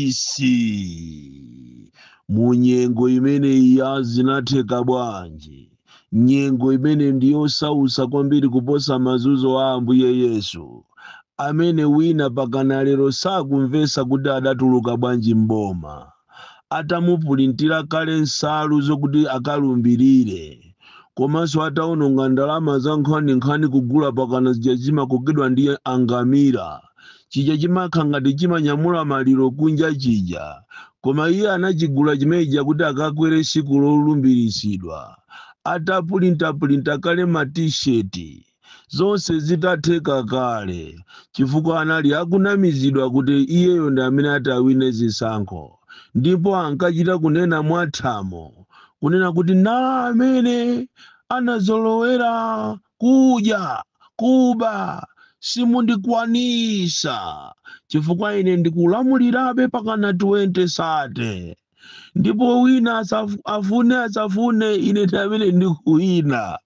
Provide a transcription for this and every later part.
isi mu nyengo imene iya zinatheka bwanji nyengo imene ndi yosausa kwambiri kuposa mazunzo a ambuye yesu amene wina pakana lero sakumvesa kuti adatuluka bwanji mboma atamupulintira kale nsalu zokuti akalumbirire komanso atawononga ndalama za nkhaninkhani kugula pakana zija zimakokedwa ndi angamira chija chimakhala ngati chimanyamula maliro kunja chija koma iye anachigula chimenechija kuti akakwere siku lolumbiritsidwa atapulintapulinta kale ma t-shirt zonse zitatheka kale chifukwa anali akunamizidwa kuti iyeyo ndi amene atawine zisankho ndipo ankachita kunena mwathamo kunena kuti na amene anazolowera kudya kuba simundikwanisa chifukwa ine ndikulamulirabe pakana 2030 ndipo wina asafu- afune asafune ine ndi amene ndikuwina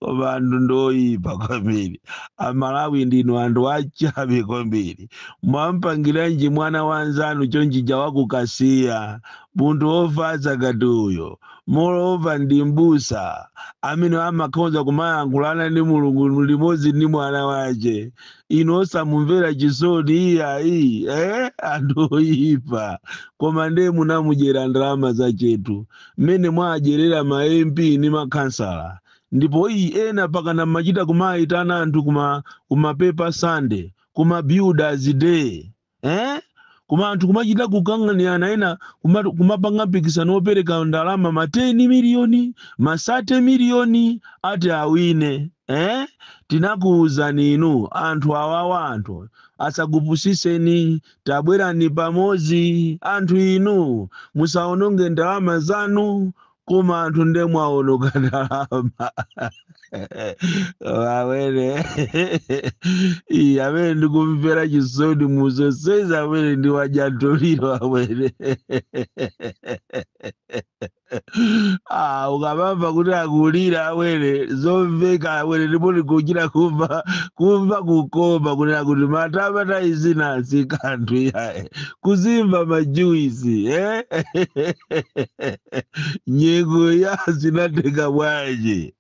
koma anthu ndoyipa kwambiri amalawi ndinu anthu achabe kwambiri mwampangiranji mwana wanzanu chonchija wakukasiya munthu wofatsa ngati uyo moreover ndi mbusa amene amakhoza kumayankhulana ndi mulungu limodzi ndi mwana wace inu osamumvera chisoni iyayi eh? anthu oyipa koma ndiye munamudyera ndalama zachetu mmene mwadyerera ma mp ndi makhansala ndipo iyi ena pakana mmachita kumayitana anthu kuma paper Sunday kuma builders day eh? koma anthu kumachita kukang'anirana ena kuma- kumapanga mpikisano wopereka ndalama ma 10 miliyoni ma 30 miliyoni ati awine eh? tinakuwuzani inu anthu awawa anthu asakupusiseni tabwerani pamodzi anthu inu musaononge ndalama zanu koma anthu nde mwaononga ndalama awene amene ndikumvera chisoni muzonsezi amene ndiwajantoliro awene Ah, ukamamva kuti akulira awene zomveka awene ndipo ndikuchita kumva kumva kukoma kunena kuti matama izi sikanthu iyaye kuzimva majuwisi eh? nyengo ya zinatheka bwanji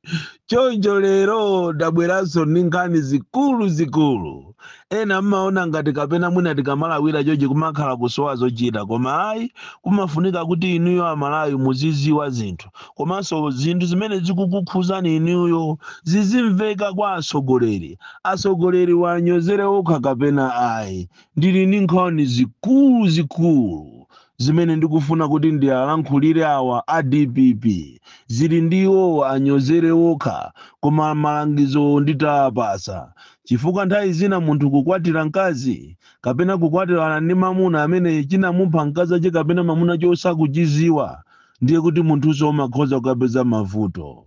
choncho lero ndabweranso ndi nkhani zikulu zikulu ena mmaona ngati kapena mwina tikamalawira chochi kumakhala kusowa zochita koma ayi kumafunika kuti inuyo amalawi muziziwa zinthu komanso zinthu zimene zikukukhuzani inuyo zizimveka kwa atsogoleri atsogoleri wanyozere okha kapena ayi Ndili ndi nkhani zikulu zikulu zimene ndikufuna kuti ndialankhulire awa a dpp zili ndi iwowo anyozere okha koma malangizowo nditawapasa chifukwa nthawi zina munthu kukwatira nkazi kapena kukwatirana ndi mamuna amene chinamupha nkazache kapena mamunache osachiziwa ndiye kuti munthunso umakhoza kukapeza mavuto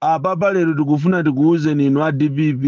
Apapa lero tikufuna tikuuzeni inu a dpp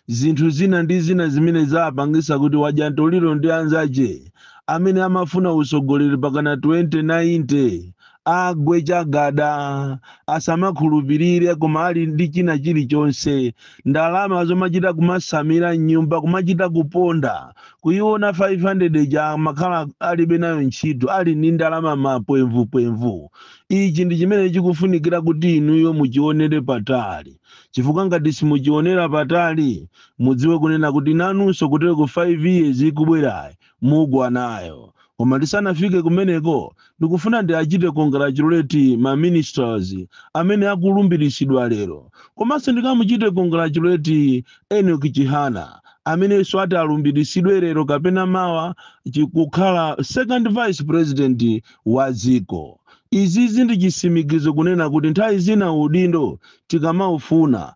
zinthu zina ndi zina zimene zapangisa kuti wadya ntoliro ndi anzache amene amafuna utsogoleri pakana 2090 agwe chagada asamakhulupilire koma ali ndi china chilichonse ndalama zomachita kumasamira mnyumba kumachita kuponda kuyiona 500 ija amakhala alibe nayo ntchito ali ndi ndalama mapwemvupwemvu ichi ndi chimene chikufunikira kuti inuyo muchionere patali chifukwa ngati simuchionera patali mudziwe kunena kuti nanunso kutero ku 5 years ikubwerayi mugwa nayo koma tisanafike kumeneko ndikufuna ndiachite congratulate ma ministers amene akulumbiritsidwa lero komanso ndikamuchite congratulate enoki chihana amenenso ati alumbiritsidwe lero kapena mawa kukhala second vice president wa dziko. Izizi ndi chisimikizo kunena kuti nthawi zina udindo tikamaufuna,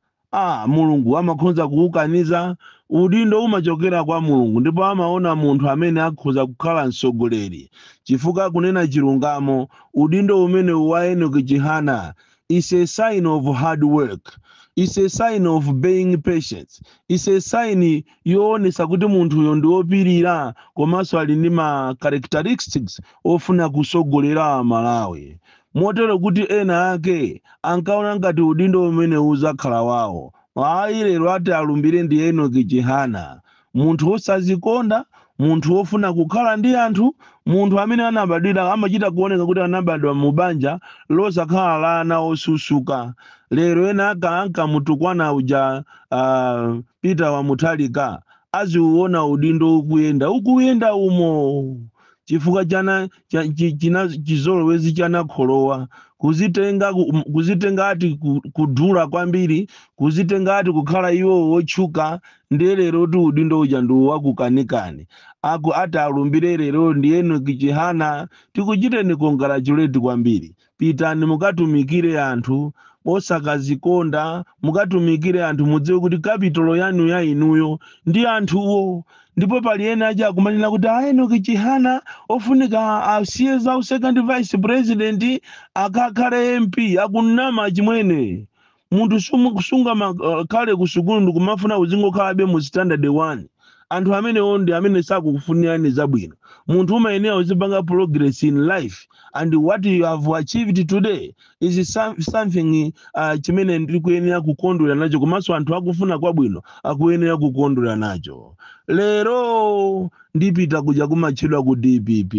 Mulungu amakhonza kuukaniza. Udindo umachokera kwa Mulungu ndipo amaona munthu amene akhoza kukhala mtsogoleri chifukwa kunena chilungamo. Udindo umenewu wa Enoki Chihana is a sign of hard work is a sign of being patient is a sign yoonesa kuti munthuyo ndi wopirira komanso ali ndi ma characteristics ofuna kusogolera amalawi motero kuti ena ake ankaona ngati udindo umene uzakhala wawo ayi lero ati alumbire ndi enoki chihana munthu wosazikonda, munthu wofuna kukhala ndi anthu, munthu amene anabadwira amachita kuoneka kuti anabadwa mu banja losakhala la ana osusuka. Lero ena ake ankamutukwana uja uh, Peter wa Mutharika aziuona udindo ukuyenda ukuyenda umo chifukwa chana cha, chi- china chizolowezi chinakulowa kuzitenga ku- m- kuzitenga ati ku- kudula kwambiri kuzitenga ati kukhala iwo wotchuka Ndiye lero tu udindo uja ndiwo wakukanikani. Aku ati alumbire lero ndi Enoch Chihana. Tikuchiteni congratulate kwambiri. Pitani mukatumikire anthu osakazikonda, mukatumikire anthu mudziwe kuti kapitolo yanu ya inuyo ndi anthuwo. Ndipo pali ena aja akumanena kuti a Enoch Chihana ofunika asiye za second vice president akakhale MP akunama chimwene. munthu sumu- sungamakhale ku sukulu ndikumafuna uzingokhalabe mu standard 1 anthu amenewo ndi amene sakukufunirani zabwino munthu umayenera uzipanga progress in life and what you have achieved today is some- something uh, chimene ndikuyenera kukondwera nacho komanso anthu akufuna kwabwino akuyenera kukondwera nacho lero ndipita kuja kumatchedwa ku dpp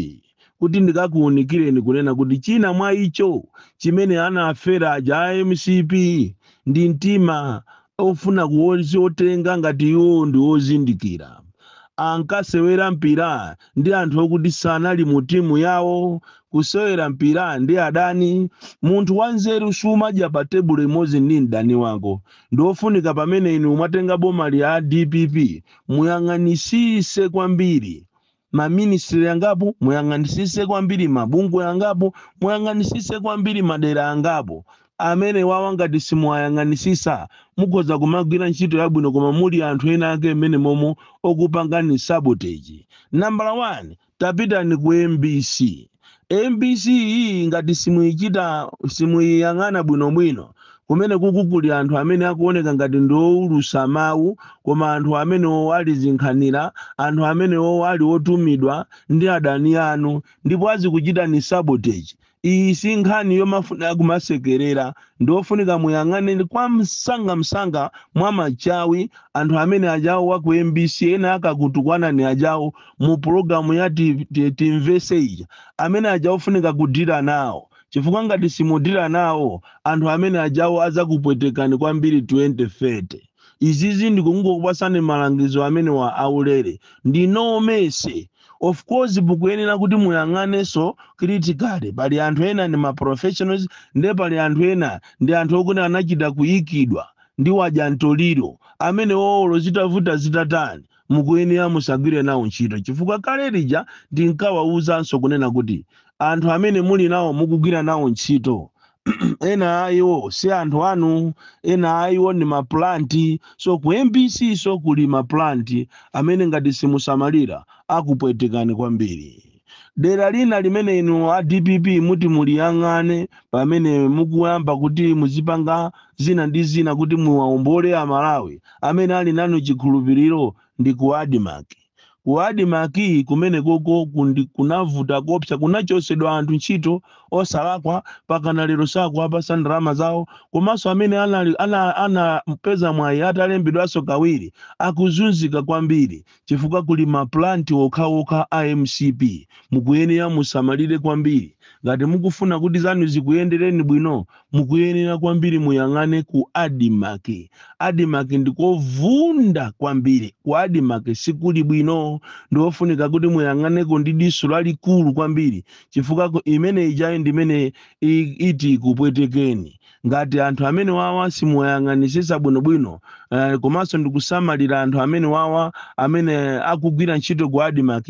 kuti ndikakuunikireni kunena kuti china mwa icho chimene anafera aja a mcp ndi mtima ofuna kuzitenga ngati iwo ndi ozindikira ankasewera mpira ndi anthu okuti sanali mu timu yawo kusewera mpira ndi adani munthu wanzeru sumadya pa tebulo imodzi ndi mdani wako ndi ofunika pamene inu mwatenga boma lya dpp muyang'anisise kwambiri ma ministry yangapo muyang'anisise kwambiri mabungwe yangapo muyang'anisise kwambiri madera angapo amene wawa ngati simuwayang'anisisa mukhoza kumagwira ntchito yabwino koma muli anthu ena ake mmene momo okupangani sabotage nambala 1 tapitani ku mbc mbc iyi ngati simuichita simuiyang'ana bwinobwino kumeneku kuli anthu amene akuoneka ngati ndioulusa mawu koma anthu amenewo ali zinkhanira anthu amenewo ali otumidwa ndi adani anu ndipo azikuchitani sabotage iyi si nkhani yomafuna kumasekerera ndiofunika muyang'ane kwa msanga msanga mwa machawi anthu amene ajawo wa ku mbc ena akakutukwanani ajawo mu pulogalamu ya ti- ti- timvese ija amene aja ofunika kudira nawo chifukwa ngati simudira nawo anthu amene ajawo adzakupwetekani kwambiri 2030 izizi ndikungokupasani malangizo amene wa aulere ndi no mercy of course mukuyenera kuti muyang'anenso critically pali anthu ena ndi ma professionals nde pali anthu ena ndi anthu okuti anachita kuyikidwa ndi wadya mtoliro amenewo olo zitavuta zitatani Mukuyenera musagwire nawo ntchito chifukwa kale lija ndinkawauzanso kunena kuti, Anthu amene muli nawo mukugwira nawo ntchito, ena a iwo si anthu anu, ena a iwo ndi maplant. So ku mbc nso kuli maplant amene ngati simusamalira akupwetekani kwambiri. dera lina limene inu a dpp muti muliyang'ane pamene mukuyamba kuti muzipanga zina ndi zina kuti muwaombole amalawi amene ali nanu chikhulupiriro ndi ku admarc ku admarc kumene koko kundi- kunavuta kopsa kunachosedwa anthu ntchito osalakwa pakana lero sakuwapasa ndalama zawo komanso amene anali- ana- anapeza mwayi atalembedwanso kawiri akuzunzika kwambiri chifukwa kuli ma plant okhaokha a mcp mukuyenera musamalire kwambiri ngati mukufuna kuti zanu zikuyendereni bwino mukuyenera kwambiri muyang'ane ku admarc admarc ndikovunda kwambiri ku admarc sikuli bwino ndiofunika kuti muyang'aneko ndi diso lalikulu kwambiri chifukwa ku- imene ijayi ndimene i- iti ikupwetekeni ngati anthu amene wawa simuwayang'anisisa bwinobwino eh, komanso ndikusamalira anthu amene wawa amene akugwira ntchito ku admarc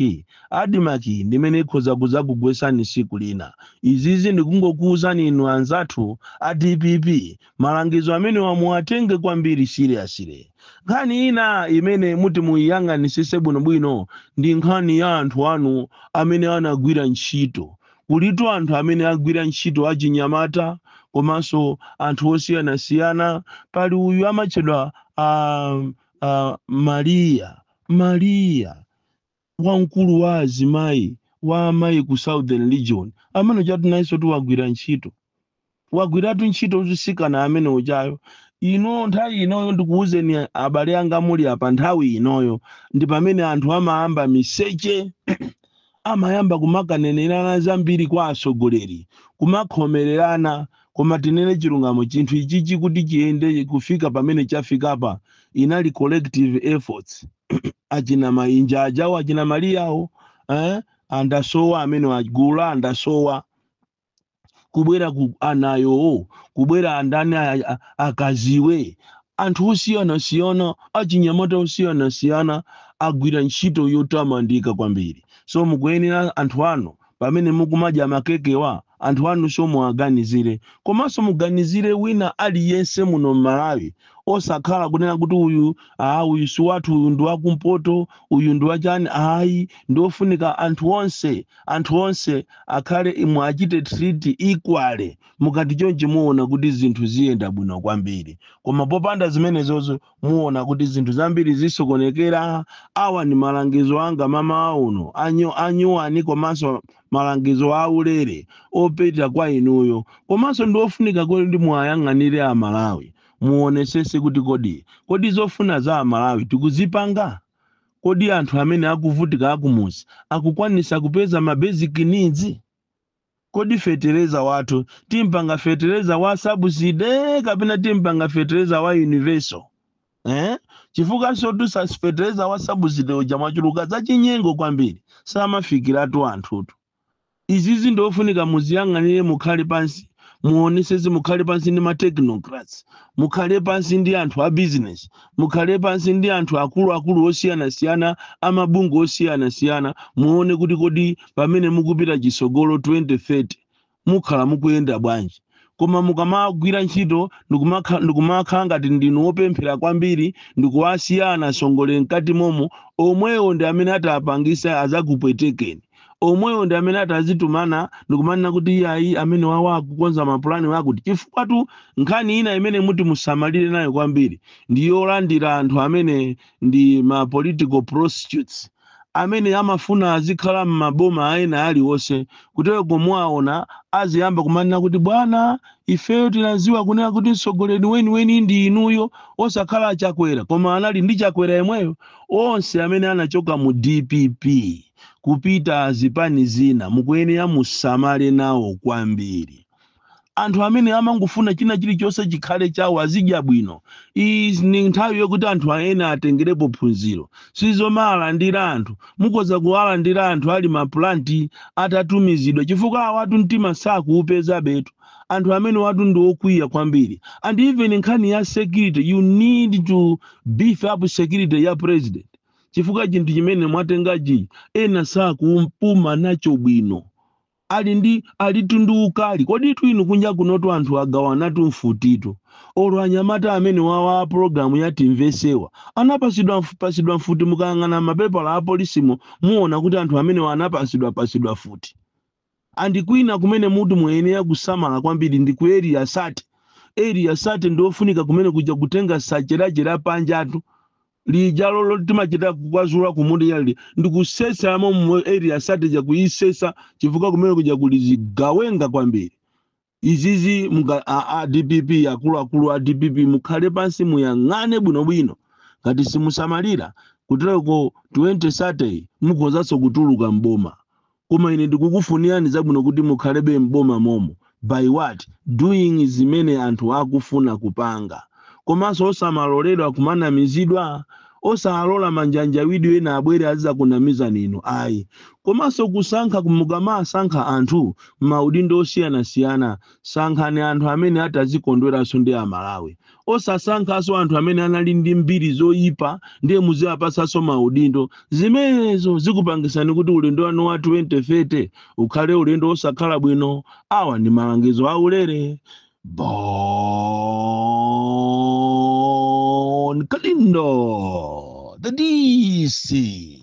admarc ndimene ikhoza kuzakugwesani siku lina izizi ndikungokuwuzani inu anzathu a dpp malangizo amenewa muwatenge kwambiri seriously nkhani ina imene muti muyiyang'anisise bwinobwino ndi nkhani ya anthu anu amene anagwira ntchito Kulitu anthu amene agwira ntchito achinyamata komanso anthu osiyanasiyana. Pali uyu amatchedwa a, a Maria Maria wamkulu wa azimayi wa amayi ku Southern Region amene ujatu nayensotu wagwira ntchito wagwiratu ntchito mtsikana amene ujayo inu nthawi inoyo ndikuwuzeni abale anga muli apa nthawi inoyo ndi pamene anthu amayamba miseche amayamba kumakanenerana zambiri kwa atsogoleri kumakhomererana koma tinene chilungamo chinthu ichichi kuti chiyende kufika pamene chafikapa inali collective efforts achina mainja ajawo achina maliyawo eh? andasowa amene agula andasowa kubwera ku anayowo kubwera andani a- a- akaziwe anthu osiyanasiyana achinyamata osiyanasiyana agwira ntchito yotamandika kwambiri so mukuyenera anthu anu pamene mukumadya makekewa anthu anunso muwaganizire komanso muganizire wina aliyense muno mmalawi osakhala kunena kuti uyu aa uyu si wathu uyu ndi wakumpoto uyu ndi wachani ayi ndiofunika anthu onse anthu onse akhale muachite treat equally mukati chonchi muona kuti zinthu ziyenda bwino kwambiri koma popanda zimenezozo muona kuti zinthu zambiri zisokonekera awa ndi malangizo anga mamawa uno anyu, anyuwani komanso malangizo aulere opita kwa inuyo komanso ndi ofunika kuti muwayang'anire amalawi muonesese kuti kodi kodi zofuna za amalawi tikuzipanga Kodi anthu amene akuvutika akumudzi akukwanisa kupeza ma basic needs? Kodi fetereza wathu timpanga fetereza wa subsidy kapena timpanga fetereza wa universal eh? Chifukwansotu fetereza wa subsidy uja mwachuluka zachinyengo kwambiri samafikiratu anthutu. izizi ndiofunika muziyang'anire mukhale pansi muonesese mukhale pansi ndi ma technocrats mukhale pansi ndi anthu a business mukhale pansi ndi anthu akuluakulu osiyanasiyana amabungwe osiyanasiyana muone kuti kodi pamene mukupita chisogolo 2030 mukhala mukuyenda bwanji Koma mukamagwira ntchito ndikumakha- ndikumakhala ngati ndinu wopemphera kwambiri ndikuwasiya anasongole mkati momo, omwewo ndi amene ati apangise azakupwetekeni. Omwewo ndi amene ati azitumana ndikumanena kuti iyayi amenewawa akukonza mapulani akuti. Chifukwatu nkhani ina imene muti musamalire nayo kwambiri ndi yolandira anthu amene ndi ma political prostitutes. amene amafuna azikhala mmaboma a ena aliwonse kuteloko muwaona aziyamba kumanena kuti bwana ifeyo tinaziwa kunena kuti mtsogoleri weniweni ndi inuyo osakhala chakwera koma anali ndi chakwera yemweyo onse amene anachoka mu dpp kupita zipani zina mukuyenera musamale nawo kwambiri anthu amene amangofuna china chilichonse chikhale chawo azidya bwino iyi ni nthawi yokuti anthu ena atengerepo phunziro sizomawalandira anthu mukhoza kuwalandira anthu ali mapulanti atatumizidwa chifukwa awatu mtima sakuupezabetu anthu amenewatu ndi okwiya kwambiri and even nkhani ya security you need to beef up security ya president chifukwa chinthu chimene mwatengachi ena sakupuma nacho bwino Ali ndi alitu ndi ukali koditu inu kunja kunotu anthu agawanatu mfutitu olo anyamata amenewawa a program ya timvesewa anapasidwa pasidwa mfuti mukayang'ana mapepala a polisimo muona kuti anthu amenewa anapasidwa pasidwa mfuti and kwina kumene muti muyenera kusamala kwambiri ndi ku area 30 area 30 ndiofunika kumene kuja kutenga sache la che la panjatu lijalo lotimachita kukwazula kumunda yali ndikusesa momo area 30 ija kuisesa chifukwa kumene kuja kuli zigawenga kwambiri izizi muka a, a dpp akuluakulu a dpp mukhale pansi muyang'ane bwinobwino ngati simusamalira kutereko 2030 mukhozanso kutuluka mboma Koma ine ndikukufunirani zabwino kuti mukhalebe m'boma momo. By what? Doing zimene anthu akufuna kupanga. Komanso osamaloledwa kumanamizidwa? Osalola manjanjawidi ena abwere azizakunamizani inu ayi. Komanso kusankha mukamasankha anthu m'maudindo osiyanasiyana sankhani anthu amene atazikondweranso ndi a Malawi. osasankhanso anthu amene anali ndi mbiri zoyipa ndiye muziwapatsanso maudindo zimenezo zikupangisani kuti ulendo wanu wa 2030 ukhale ulendo wosakhala bwino awa ndi malangizo aulere bon kalindo the dc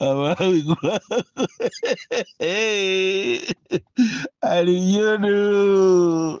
Amalawi kulakwa. Hey, Aliyono.